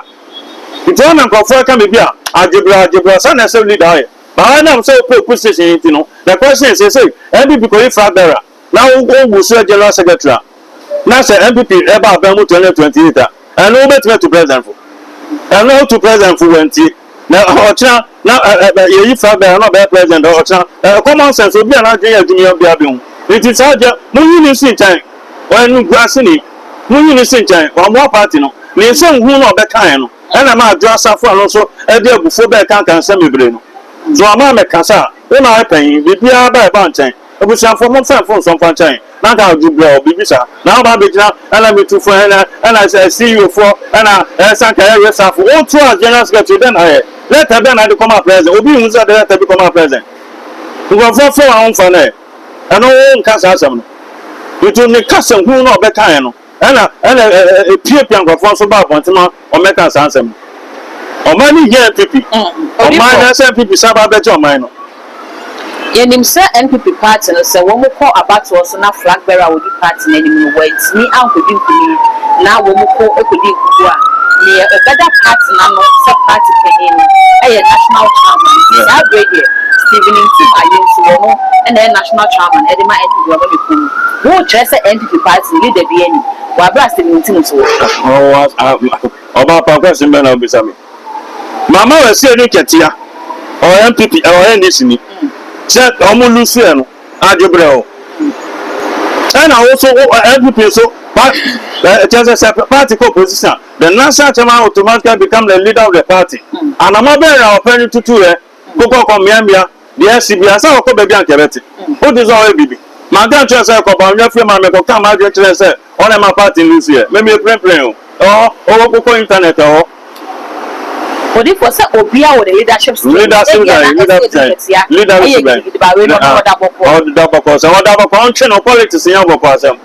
Nti ɔna nkorɔfoɔ ɛka me bia, agyebra agyebra, saa na ɛsɛ leader ɔyɛ. But ɔyɛ nam sɛ ɔpɛ ɔku station yi nti no, na ɛkɔ sɛ seisei NPP kɔ yi flag bearer na ɔwu so yɛ general secretary a, na sɛ NPP ɛba abɛn mu 2028 a, ɛno wobɛtumi atu president fo? Ɛno ɔtu president fo wantie. Na ɔkyena na yɛyi fra bɛn na ɔbɛyɛ president ɔkyena ɛ common sense obi a n'adwene yɛ adwuma bia bɛ hu nti saa deɛ mo nyi ne si nkyɛn ɔyɛ no guaseni mo nyi ne si nkyɛn wamoa party no ne nsɛm hu na ɔbɛ kaeɛ no ɛna ɛma adwo asafo a no nso ɛde abufuo bɛɛ kanka nsɛm bebree no so ama mɛ kasa a wo na ayɛ panyin biribiara ba ɛba nkyɛn. Ebusuafo, momfa mfomso mfa nkyɛ hɛn, na anka odwo ber a ɔwɔ biribi saa na aaba abegyina na me tu fo na na CEO fo na sɛ anka yɛyɛ safo o to as General Secretary dɛn na ayɛ? Lɛtɛr bɛn na ade kɔmaa President? Obi nnhu sɛ ɔde lɛtɛr bi kɔmaa President? Nkorɔfo fow a wɔmmfa no ɛ, ɛno wo nka saa asɛm no. Nto ne kasa hunu no a ɔbɛkae no. Ɛna ɛna epiapia nkurɔfoɔ nso ba abɔnten ma wɔmmɛka saa nsɛm no. Ɔman no hia NPP. Ɔman no sɛ NPP san ba abɛgye ɔman no. Yɛnim sɛ NPP party no sɛ wɔn kɔ abatoɔ so na flag bearer a ɔdi party no anim no wantumi ankɔdi nkunim na wɔn ko kɔdi nkukuo a, neɛ ɔbɛda party no ano sɛ party panin no yɛ national chairman. Nti saa berɛ yi deɛ Stephen Ntim Ayensu, ɔno na ɛyɛ national chairman de ma NPP, ɔno ne kuo no. Wokyerɛ sɛ NPP. Party leader biaa nnim wɔ aberɛ a Stevenonti no so wɔ. Ɔbaa paako asem bɛn na wobisa me? Mama Wɛsee ne Twɛtea ɔyɛ NPP ɔyɛ NDC ni sɛ ɔmo lose ɛ no adwe brɛ o ɛna wo so wo NPP so pa kyɛ sɛ sɛ party kɔ opposition the national chairman automatically become the leader of the party anamɔ bɛn na ɔpɛ no tutu ɛ kokɔ kɔ mea mea deɛ asi bia sɛ ɔkɔ baabi anka ɛbɛte wogye sɛ ɔyɛ biribi manka nkyerɛ sɛ kɔ bawonwa fie ma mekɔ ka m'adwene kyerɛ sɛ ɔna ɛma party no siɛ me mie prenpren o ɛhɔ ɔwɔ kokɔ internet ɛhɔ Odifo sɛ obia wɔ ne leadership skills leadership ebia na ɛsɛ odi nketea ɛyɛ gidigidi ba wei na ɔno ɔda bɔkɔɔ ɔda bɔkɔɔ sɛ ɔda bɔkɔɔ ɔntwe no politics nyɛ bɔkɔɔ asɛm.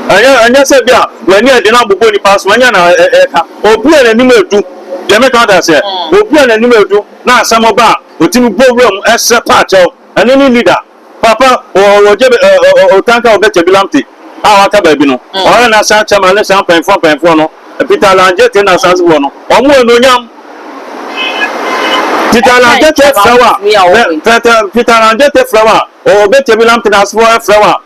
Ɛnyɛ, ɛnyɛ sɛ ebia w'ani aden abobɔ nnipa so, ɛnyɛ na ɛka. Obi a n'anim adu, deɛ meka ate aseɛ, obi a n'anim adu na asɛm ba a, ɔtumi bɔ wura mu srɛ paakyɛw. Ɛno ne leader papa. Ɔgye bɛ, ɛ, ɛ, ɛ, ɔtanka ɔbɛ kyɛ bi lamte a waka baabi no. Ɔyɛ na saa chairman ne saa mpanyinfoɔ mpanyinfoɔ no, Peter Langyete na asasefoɔ no, wɔn wɔ anuonyam. Peter Langyete frɛ wo a, Peter, Peter Langyete frɛ wo a, ɔbɛ kyɛ bi lamte na asasefoɔ frɛ wo a,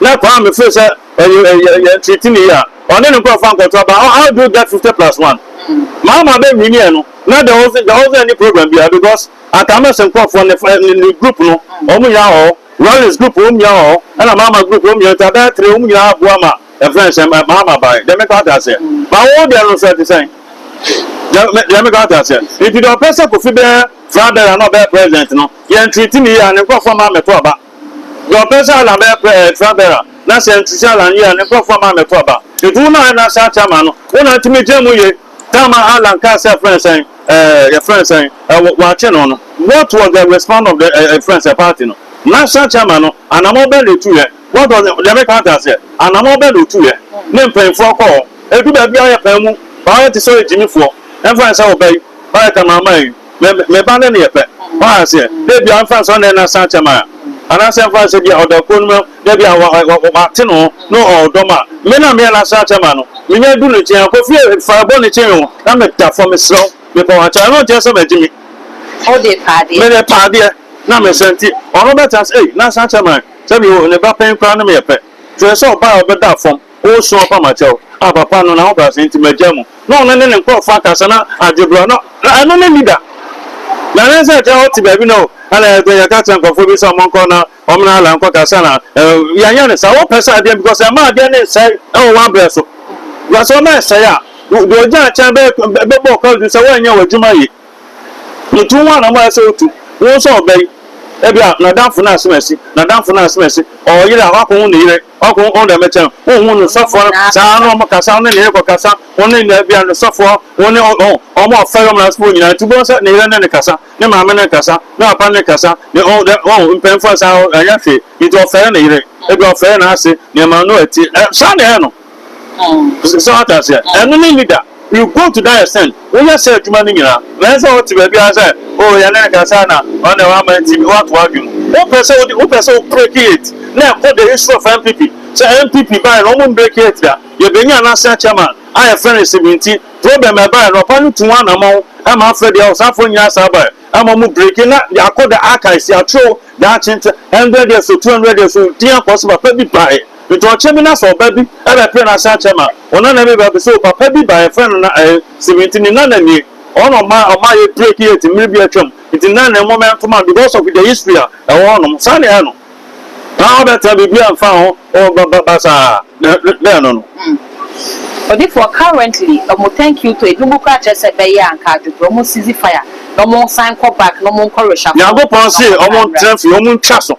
na kwan a me feel sɛ yɛ treat ne yie a ɔne ne nkorɔfoɔ ankɔto aba how how do you get fifty plus one maa maa bɛ nwini yɛ no na there wasn't there wasn't any program biara because anka ama sɛ nkorɔfoɔ ne fa ne ne group no wɔn nyinaa wɔ hɔ Rollins group wɔn nyinaa wɔ hɔ ɛna maa maa group wɔn nyinaa nti abɛyɛ three wɔn nyinaa aboa ma ɛfrɛ ne sɛ maa maa bae deɛ meka ate aseɛ ma wo deɛ no nso ɛte sɛn deɛ me- deɛ meka ate aseɛ nti deɛ ɔpɛ sɛ kofi bɛyɛ fra bɛrɛ na ɔbɛyɛ president no yɛn treat ne yie a ne nkorɔfoɔ maa mɛto aba Dɔ bɛ zaa la mɛ pɛɛ tra bɛ ra, na sɛ n ti zaa la n yɛ a, ne nkurɔfoɔ ma mɛ to aba. Enti wo na na saa tra ma no, wo na nti me gyina mu ye. Tamar a la n kaa sɛ yɛ frɛ no sɛn, eh, yɛ frɛ no sɛn, eh, wɔ, wɔakye no no, what was the response of the, eh, yɛ frɛ no sɛn, party no? Na saa tra ma no, anamɔ bɛn na ɛtu yɛ? What was the, deɛ me ka ate aseɛ, anamɔ bɛn na ɔtu yɛ? Ne mpaninfoɔ kɔɔ, ɛdu baabi a yɛ paa mu, paa yɛ te sɛ ɔyɛ gyimifoɔ, ɛmfa ne sɛ ɔba yi, ɔyɛ Tamar ma yi. Me me ba no ne yɛ pɛ. W'aha aseɛ? Dɛ bia nfa nsɔ nɛ na san kyɛ ma a. Anaa sɛ nfa nsɛ bia ɔda kuro no mu dɛ bia wa wa wa w'ate no ho no ɔ ɔdɔ ma me na meɛ na san kyɛ ma no. Me nya du ne nkyen a kɔ fie fa ɛbɔ ne nkyen o na me da fɔ me srɛ wo me pɛ w'akyɛ ɛno nkyɛ sɛ m'agye me. Wo de pa adeɛ. Me de pa adeɛ na me srɛ nti ɔno bɛ ta sɛ ei na san kyɛ ma sɛ me o ne ba pɛn koraa ne me yɛ pɛ. Kyerɛ sɛ ɔbaa a ɔbɛ da fɔm. Woresõ apam akyɛw a papa no n'ahobrɛase nti magyae mu na ɔno ne ne nkurɔfo akasa na adwe bere a na na ɛno no nni da. Na ɛne sɛ agya a ɔte baabi na o, ɛna yɛde yɛka kyerɛ nkurɔfo bi sɛ wɔnkɔ na wɔne Allah nkɔkasa na ɛ, yɛnyɛ no saa. Wopɛ sɛ adeɛ because ɛma adeɛ no nsɛe wɔ w'abrɛ so. Because sɛ ɔma ɛsɛe a, wo deɛ ogyaa akyɛn bɛyɛ bɛbɔ wo kɔdwe sɛ woanyɛ w'adwuma yie. Nti wo ho anam a ɛsɛ wotu. Wohu sɛ ɔbɛ yi, ebia n'adamfo no asem asi, n'adamfo no asem asi, ɔyere a wakɔwo ne yere, Hwan kronkron na ɛbɛkyɛn? Honhom ne ɔsɔfoɔ no, saa ara na wɔkasa, wɔne ne yere kɔkasa, wɔne ne bia ne ɔsɔfoɔ, wɔne wɔn a wɔfɛre wɔn asefoɔ nyinaa. Nti wobɛhu sɛ ne yere ne no kasa, ne maame ne no kasa, ne papa ne no kasa, ne ɔn dɛ ɔn mpanyinfoɔ a saa ɛnyɛ hwee. Nti ɔfɛre ne yere, ebi ɔfɛre n'ase, nneɛma no ɛte saa na ɛyɛ no. So ate aseɛ? Ɛno ne nni da. You go to die sɛn? Woyɛ saa adwuma no nyina na ɛsɛ sɛ wote baabi ara sɛ oh yɛne no kasa na ɔno na wama nti woato w'adwen mu. Wopɛ sɛ wode wopɛ sɛ wo break it na ɛkɔ the history of NPP sɛ NPP baeɛ no wɔn break it da yɛbɛnya national chairman a yɛfrɛ no Isibiri nti problem ɛbaeɛ no ɔpa no tuu anamɔn ɛma afrɛ deɛ ɔsafoɔ nyinaa saa baeɛ ɛma wɔn break it na yɛakɔ the archives yɛatwerɛ daakye nti hundred years or two hundred years or din akɔ so papa bi baeɛ Ntɔnkye bi na sɛ ɔba bi bɛpere n'ase akyɛ ma wo nana bi ba bi so papa bi ba yɛfrɛ no na ɛɛ Steven nti ne nana nie ɔno na ɔma ɔma yɛ break yɛ ti mmere bi atwam nti nana ne nwoma ntoma because of the history a ɛwɔ hɔ nom saa na ɛyɛ no na ɔbɛtena biribi a mfa ho ɔba ba ba saa na na ɛno no. Odifoɔ, Currently ɔmo thank you to ebinom koraa kyerɛ sɛ bɛyɛ a nka adwobrɛ ɔmo cease fire na ɔmo nsan nkɔ back na ɔmo nkɔ reshuffle Nyankopɔn se ɔmo ntra fie ɔmo ntwa so.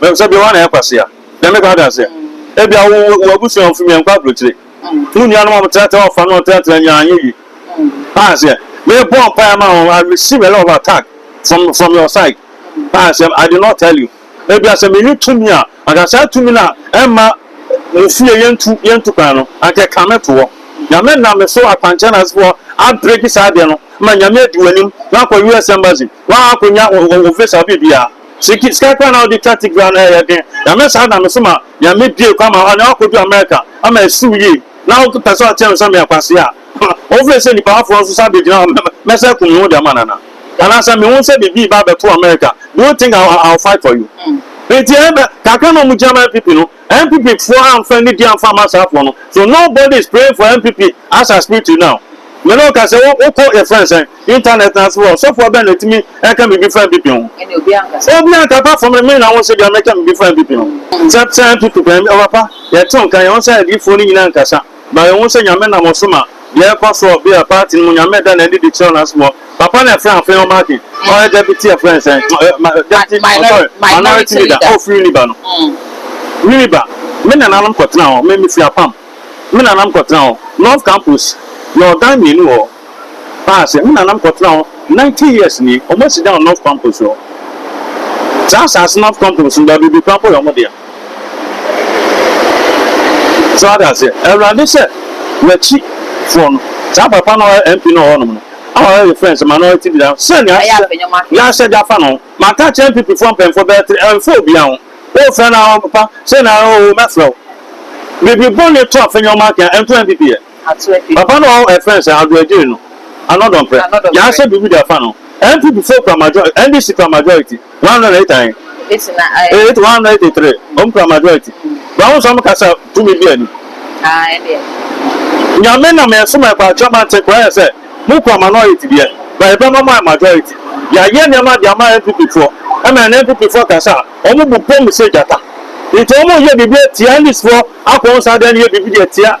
Menim sɛ bia woana yɛ kwasea. Deɛ meka ɔda aseɛ. Ebia wo wo abusua wo fimi ɛnkɔ abrokyire. Wo nua nom a ɔmo tratra ɔfa nom tratra nyaa anyɛ yie. Woa aseɛ. Me bɔ mpaeɛ ma wo I receive a lot of attack from from your side. Woa aseɛ I did not tell you. Ebia sɛ me ni tumi a anka saa tumi no a ɛmma mo fie yɛ ntu yɛ ntu kwan no anka ɛka me to hɔ. Nyame nam me so akwankyɛn ase foɔ a break saa adeɛ no ma Nyame adi wo anim na akɔ US embassy. Woa akɔ nya wo wo visa wo biribiara. Siki sika koraa na wode twa tigra no ɛyɛ den nyame saa na mese ma nyame bie kwan ma ɔne wakodu America ama asiw yie na wopɛ sɛ ɔteɛ me sɛ meyɛ kwasea a wofrɛ sɛ nipa afoɔ nso sɛ abɛgyina hɔ mɛ mɛsɛ akum me ho de ama nana anaa sɛ mehu sɛ biribi ba abɛto America do you think I, I'll fight for you nti ɛbɛ kakra na ɔmo gyina ma NPP no NPP foɔ amfa nidi amfa ama saa foɔ no so nobody is praying for NPP as I speak to you now me ne wo ka sɛ wo kɔ yɛfrɛ no sɛn internet no ase hɔ ɔsɔfoɔ bɛn na ɛtumi ɛka biribi fa NPP ho obi anka apart from me na wo nso deɛ mɛka biribi fa NPP ho sɛ sɛ NPP pɛ papa yɛte wo nka yɛn ho sɛ adiyifoɔ no nyina nkasa. Ma yenhu sɛ Nyame nam ɔsom a yɛkɔ so wɔ bia party no mu Nyame da n'adi de kyerɛw n'asom hɔ. Papa na ɛfrɛ Afei ɔma ake. Ɔyɛ Deputy ɛfrɛ no sɛn? Deputy, oh sorry, Minority Leader. Oh firi Winneba no. Winneba, me nananom kɔtenaa hɔ. Me, mefiri Apam. Me nananom kɔtenaa hɔ. North Campus, yɛwɔ gang mmienu wɔ hɔ. Paa se me nanam kɔtena hɔ nineteen years nie ɔmo asi dan wɔ North Kwampus hɔ. Saa asaase North Kwampus no baabi bebree paa mpo yɛ ɔmo dea. So wate aseɛ? Awurade sɛ wakyi foɔ no saa papa no a ɔyɛ MP no wɔ hɔnom no a ɔyɛ yɛ friend sɛ ma no ɔti deda sɛ nea yɛahyɛ de afa no ho. Maka akyerɛ NPP foɔ mpanyinfoɔ bɛyɛ three ɛmfa obia ho. Wofrɛ no a papa sei na oo mɛfrɛ wo. Biribi bɔne to a fanyɛ ɔmo ake a ɛnto NPP ɛ. Papa no ɔɔ ɛfrɛ no sɛ Ado Agyei no, Ano Dɔmprɛ, Yaa sɛ biribi da fa no, NPP foɔ kura majority, NDC kura majority, one hundred and eight and eight na ɛyɛ, eight, one hundred and eighty three, ɔmo kura majority, bra wo sɛ ɔmo ka sɛ tumi bi ani. Haa ɛdeɛ. Nyame na me ɛso ma ɛkɔ akyerɛ ma nte koraa yɛ sɛ mo kura minority deɛ, but ɛbɛ ma mo ayɛ majority, ya yɛ nneɛma de ama NPP foɔ, ɛma ɛnɛ NPP foɔ ka sɛ a, ɔmo bu pom sɛ gyata, nti ɔmo yɛ biribi atia NDC foɔ akɔ nsa dɛn yɛ biribi de atia.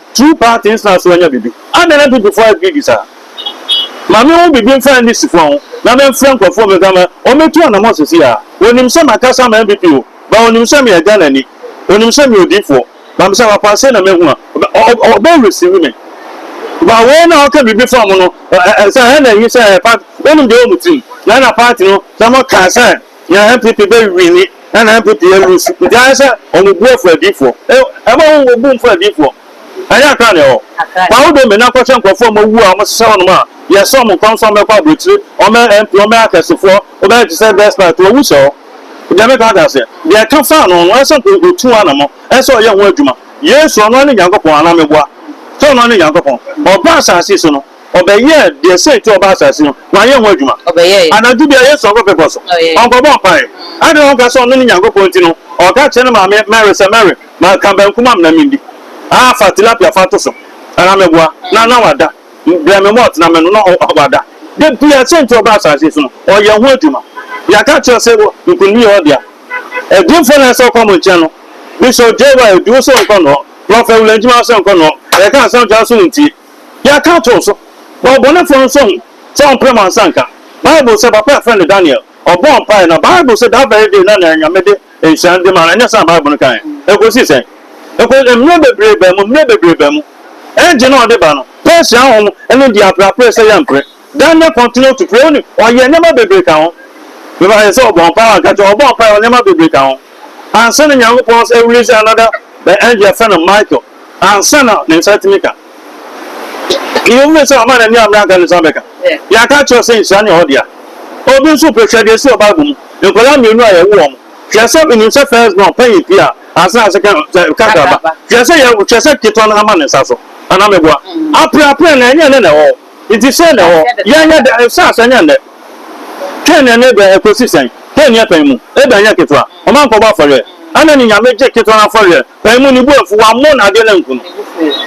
Two parties na so anya bibi. Adɛn na Bibifo ayɛ greedy saa? Ma menhu biribi mfa NDC fo ho na memfrɛ nkurɔfo wɔ me ka ma wɔmmɛtu anamɔn sesei ara. Wɔnim sɛ makasa ama NPP o, but wɔnim sɛ meyɛ Ghanani. Wɔnim sɛ meyɛ odiyifoɔ, but mesɛ amapa sei na mahu a, wɔbɛ receive me. But wei na wɔka biribi fa mo no, sɛ ɛhɛ na ɛhi sɛ ɛyɛ party, wɔnim deɛ ɛwɔ mo tirim. Na ɛna party no, sɛ moka sɛ. Nea NPP bɛ wini na na NPP yɛ lusu nti ayɛ sɛ ɔmo bu ɛfɔ adiifoɔ ɛ ɛma wo wo bu nfɔ adiifoɔ ɛnyɛ akra na ɛwɔ fa wo dome na kɔhwɛ nkorɔfoɔ ɔmo awu a ɔmo sesa hɔ nom a yɛ sɛ ɔmo nkɔm so ɔmo bɛkɔ abrokyire ɔmo yɛ MP ɔmo yɛ akɛsefoɔ wo bɛyɛ te sɛ despite wɔ wu sɛ hɔ deɛ meka ate aseɛ deɛ ɛka faa no no ɛsɛ nko otu ho anamɔ ɛsɛ ɔyɛ ho adwuma Yesu ɔno ne Nyankopɔn anaa meboa sɛ ɔno ne Nyankopɔn ɔba asase so no. Ɔbɛyɛɛ deɛ sɛ nti ɔbaa asase no, wanyɛ ho adwuma? Ɔbɛyɛɛ. Anadwo biara Yesu nkɔ bepɔ so. Ɔyɛɛ. Ɔnkɔbɔ mpaeɛ. Adɛn na woka sɛ ɔno ne Nyankopɔn nti no, ɔka kyerɛ ne maame Mary sɛ, Mary, ma ka banku ma me na mendi. Ah, fa tilapia fa to so. Anaa meboa? Na, na wada. Brɛ me malt na menom. Na ɔ, ɔ, wada. Da biara sɛ nti ɔbaa asase so no, ɔyɛ ho adwuma. Yɛaka akyerɛ wo sɛ wɔ, nkonimdi yɛ ɔdea. Adiyifoɔ na ɛsɛ sɛ wɔkɔ mo nkyɛn no. Bishop J. Y. Oduo sɛ ɔnkɔ ne hɔ. Prɔfɛt William Gyimah sɛ ɔnkɔ ne hɔ. Yɛka asɛm kyerɛ wo sɛ wontie. Yɛka too so wɔ ɔbɔnefoɔ nso ho sɛ ɔmpere mo ansa nka. Bible sɛ papa a yɛfrɛ no Daniel, ɔbɔɔ mpaeɛ na Bible se that very day na nea Nyame de nhyira no de maa no, ɛnyɛ saa na Bible no kaeɛ? Ɛkɔsii sɛn? Ɛkɔ, mmerɛ bebree baa mu, mmerɛ bebree baa mu, ɛgye na ɔde ba no, Persia ahom ne deɛ apereapereɛ sɛ yɛmpere. Daniel continued to pray, only ɔyɛɛ nneɛma bebree ka ho. Bible ka sɛ ɔbɔɔ mpae, wanka kyerɛ, ɔbɔɔ mpae, ɔyɛɛ nneɛma bebree ka ho. Ansa na Nyankopɔn sɛ release another the angel yɛfrɛ no Michael, ansa na ne nsa atumi ka. Yɛn mu sɛ ɔma n'ani amena anka ne nsa bɛka. Yɛaka kyerɛ sɛ nhyira ne hɔ dea. Obi nso pɛ hwɛ deɛ ɛsi wɔ Bible mu. Nkwadaa mmienu a yɛwo wɔn. Hwɛ sɛ onim sɛ first born panyin pii a ansa na second kakraba. Hwɛ sɛ yɛwo hwɛ sɛ ketewa no ama ne nsa so. Anaa meboa. Apereapereɛ na ɛnyɛ ne na ɛwɔ hɔ. Enti sɛn na ɛwɔ? Yɛnyɛ dɛn? Nhyɛ aseɛ nyɛ nnɛ. Kain ne Abel ɛkɔsi sɛn? Kain yɛ pɛn mu, Abel nyɛ ketewa. Ɔma nkɔbɔ afɔreɛ. Ana ne Nyame gye ketewa no afɔreɛ? Pɛn mu, ne bo amfu, wammɔ no adeɛ no anku no.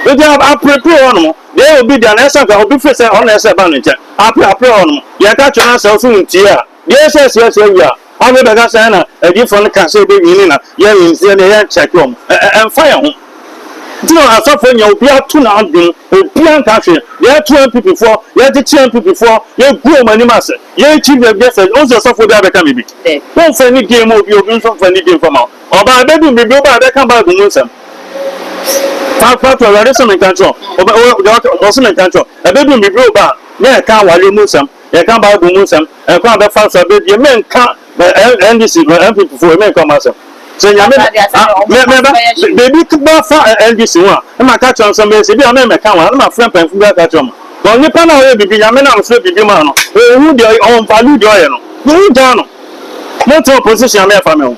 Enti aperepere wɔ hɔ nom. Deɛ ɛyɛ obi dea no, ɛsɛ sɛ anka obi firi sɛ ɔno na ɛsɛ sɛ ɛba ne nkyɛn. Apereapereɛ wɔ hɔ nom. Yɛka kyerɛ no na sɛ wo nso wontie a, Deɛ sɛ sɛ sɛ wia ɔne bɛka sɛ na adiyifoɔ no ka sɛ ɛbɛwie ne na yɛnim sɛ yɛdeɛ yɛnkyɛke wɔn ɛmfa yɛn ho nti na asɔfoɔ nyɛ obiara ato n'adwene mu obiara nka hwee deɛ ɛto MPP foɔ yɛgyekye MPP foɔ yɛgu wɔn anim ase yɛkyi deɛ deɛ sɛ ɔnsɛ sɔfoɔ biara bɛka me bi wɔmfa ne die ma obi obi nso mfa ne die mfa ma ɔbaa bɛdum bibi ɔbaa bɛka baabu mu nsɛm papato awurade sɛ menka nkyerɛ ɔsɛ menka nkyerɛ ɛbɛdum bibi ɔbaa na ɛka awale mu nsɛm yɛnka Bible mu nsɛm, ɛkwan a bɛfa so abɛbie, menka NDC, NPP fo, menka ɔmo asɛm. Sɛ nyame, biribi bɛfa NDC ho a, na maka kyerɛ nsɛm bɛyɛ sɛ, bi a mɛmɛka wɔn, na mafrɛ mpanyinfo bi aka kyerɛ ɔmo. Wɔn nipa no a ɔyɛ biribi, nyame nam so biribi maa no, ohu deɛ ɔyɛ, ɔn value deɛ ɔyɛ no, na ohu gyaa no. Monte opposition a mɛfa me ho.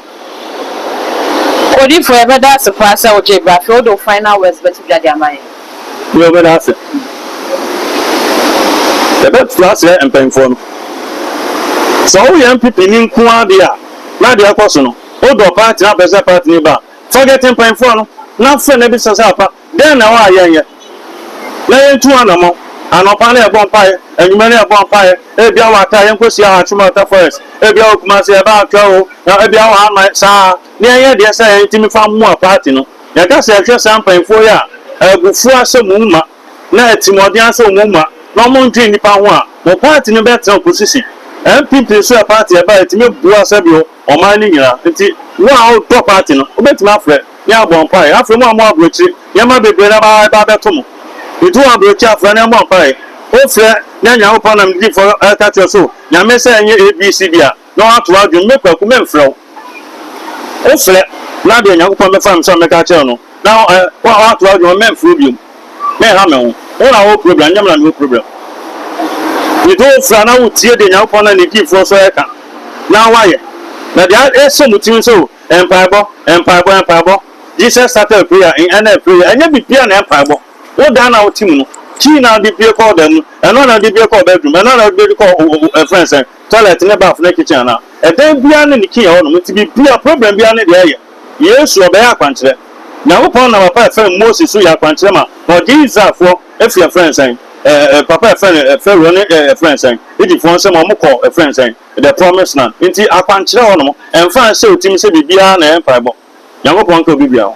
Odifo yɛbɛda ase paa sɛ wogyee bra afei wode wo final words bɛto dwa de ama yɛn. Yɛwɔ bɛ n'ase. Yɛ bɛ to aseɛ mpanyinfoɔ no. Sɛ wo yɛ NPP ni nko ara deɛ a, na deɛ ɛkɔ so no, wo dɔ party na wopɛ sɛ party ni ba a, forget mpanyinfoɔ no na frɛ na bisa sɛ apa dɛn na ɛwɔ a yɛ nyɛ na yɛ ntu anamɔn. Anɔpa no yɛ bɔ mpaeɛ, anwumɛ no yɛ bɔ mpaeɛ, ebia wɔ Ata yɛ nkɔ hyia Hatchum Ata Forest, ebia wɔ Kumasi yɛ ba Anka o, ebia wɔ Aman, saa na yɛ nyɛ deɛ sɛ yɛ ntumi fa mmoa party no. Yɛka sɛ hwɛ saa mpanyimfoɔ yi a abufuo ahyɛ mo mu ma, na atirimuɔden ahyɛ wɔn mu ma, na wɔn ntwene nnipa ho a, mo party no bɛtena opposition. NPP nso yɛ party a ɛba a ɛtumi boa sɛdeɛ ɔman no nyina. Nti wo a wo dɔ party no, wo bɛtumi afrɛ ne abɔ mpaeɛ. Afei mo a mo wɔ aburokyire, nneɛma bebree na ɛba ɛba abɛto mo. Nti wo wɔ aburokyire a frɛ ne mmɔ mpaeɛ. Wo frɛ ne Nyankopɔn nam ne difoɔ ɛka kyerɛ so, Nyame sɛ ɛnyɛ ABCD a, na wɔato w'adwene mu. Me Kwaku, memfrɛ wo. Wofrɛ, na deɛ Nyankopɔn bɛfa no sɛ ɔmmɛka akyerɛ wo no, na woato w'adwene mu, memfrɛ wo biom. Menha me ho. Wo na wowɔ problem, ɛnyɛ me na mewɔ problem. Mede wo frɛ a na wotie deɛ Nyankopɔn ne Ne Difoɔ nso reka, na woayɛ. Na deɛ ɛhyɛ mo tirim sɛ o, mpaebɔ, mpaebɔ, mpaebɔ, Jesus started with prayer, in ɛna prayer, ɛnyɛ biribiara na mpaebɔ. Wo dan no a wote mu no, key no a wode pue kɔ wo dan mu no, ɛno ara na wode pue kɔ wo bedroom, ɛno ara na wode pue kɔ wo, wo, wo, ɛfrɛ no sɛn? Toilet ne bath ne kitchen ana? Ɛdan biara ne ne key ɛhɔ nom nti biribiara problem biara ne deɛ ɛyɛ Yesu ɔbɛyɛ akwankyerɛ. Nyankopɔn nam apa ɛfɛm Moses so yɛ akwankyerɛ ma ɔgyee Israelfoɔ ɛfiri ɛfrɛn sɛn ɛɛ papa ɛfrɛn ɛɛ Pharaoh ne ɛɛ ɛfrɛn sɛn Egyptfoɔ nsam ɔmo kɔɔ ɛfrɛn sɛn the promise land nti akwankyerɛ hɔ nom ɛnfa nhyɛ otimi sɛ biribiara na ɛyɛ mpaebɔ Nyankopɔn nka obi biara ho.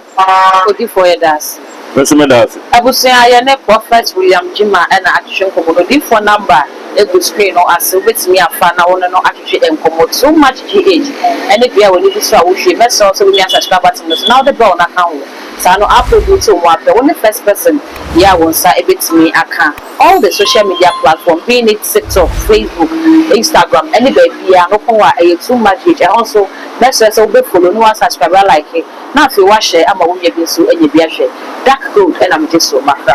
Odifoɔ yɛda ase. Me nso meda ase. Abusua yɛne Prophet William Gyimah na atwetwe nkɔmmɔ no odifoɔ number gu screen no ase wobɛtumi afa na wone no atwetwe nkɔmmɔ too much GH ɛne bea a w'ani di so a wohwie mɛsrɛ wo sɛ wonya subscribe button no so na wode bell no aka ho saa no alpha bi nti wɔn apɛ wone first person yɛ a wo nsa bɛtumi aka All the social media platform be it tiktok, facebook, instagram ɛne baabiaa no kɔn a ɛyɛ too much age ɛhɔ nso mɛsrɛ sɛ wobɛ follow na wa subscribe wa like na afei wa share ama wo nua bi nso anya bi ahwɛ dark gold ɛna megye so makra.